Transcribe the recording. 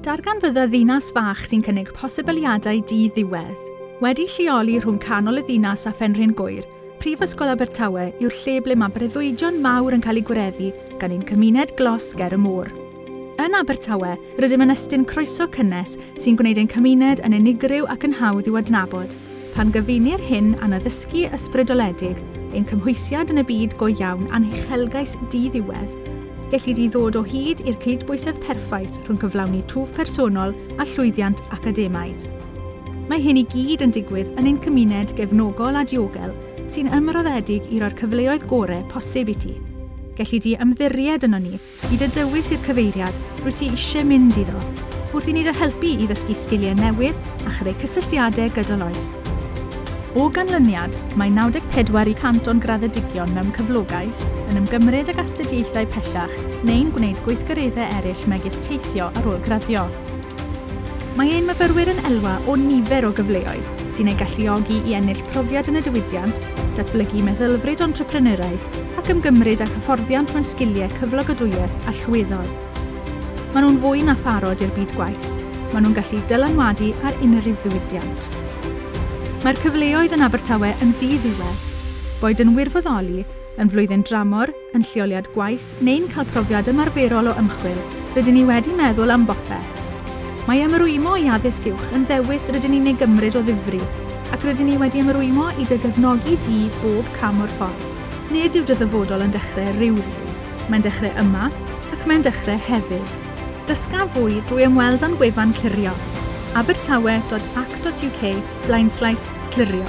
Darganfydda ddinas fach sy'n cynnig posibiliadau di-ddiwedd. Wedi lleoli rhwng canol y ddinas a Phenrhyn Gŵyr, Prifysgol Abertawe yw'r lle ble mae breuddwydion mawr yn cael eu gwireddu gan ein cymuned glos ger y môr. Yn Abertawe, rydym yn estyn croeso cynnes sy'n gwneud ein cymuned yn unigryw ac yn hawdd i'w adnabod. Pan gyfunir hyn â'n addysgu ysbrydoledig, ein cymhwysiad yn y byd go iawn a'n huchelgais di-ddiwedd, gelli di ddod o hyd i'r cydbwysedd perffaith rhwng cyflawni twf personol a llwyddiant academaidd. Mae hyn i gyd yn digwydd yn ein cymuned gefnogol a diogel sy'n ymroddedig i roi'r cyfleoedd gore posib i ti. Gelli di ymddiried ynon ni. I dy dywys i'r cyfeiriad rwyt ti eisiau mynd iddo, wrth i ni dy helpu i ddysgu sgiliau newydd a chreu cysylltiadau gydol oes. O ganlyniad, mae 94 y cant o'n graddedigion mewn cyflogaeth, yn ymgymryd ag astudiaethau pellach neu'n gwneud gweithgareddau eraill megis teithio ar ôl graddio. Mae ein myfyrwyr yn elwa o nifer o gyfleoedd sy'n eu galluogi i ennill profiad yn y diwydiant, datblygu meddylfryd entrepreneuraidd ac ymgymryd â hyfforddiant mewn sgiliau cyflogadwyedd allweddol. Maen nhw'n fwy na pharod i'r byd gwaith, maen nhw'n gallu dylanwadu ar unrhyw ddiwydiant. Mae'r cyfleoedd yn Abertawe yn ddi-ddiwedd. Boed yn wirfoddoli, yn flwyddyn dramor, yn lleoliad gwaith neu'n cael profiad ymarferol o ymchwil, rydyn ni wedi meddwl am bopeth. Mae ymrwymo i addysg uwch yn ddewis rydyn ni'n ei gymryd o ddifri, ac rydyn ni wedi ymrwymo i dy gefnogi di bob cam o'r ffordd. Nid yw dy ddyfodol yn dechrau rhyw ddydd, mae'n dechrau yma, ac mae'n dechrau heddiw. Dysga fwy drwy ymweld â'n gwefan clirio, abertawe dot ac dot uk blaenslaes clirio.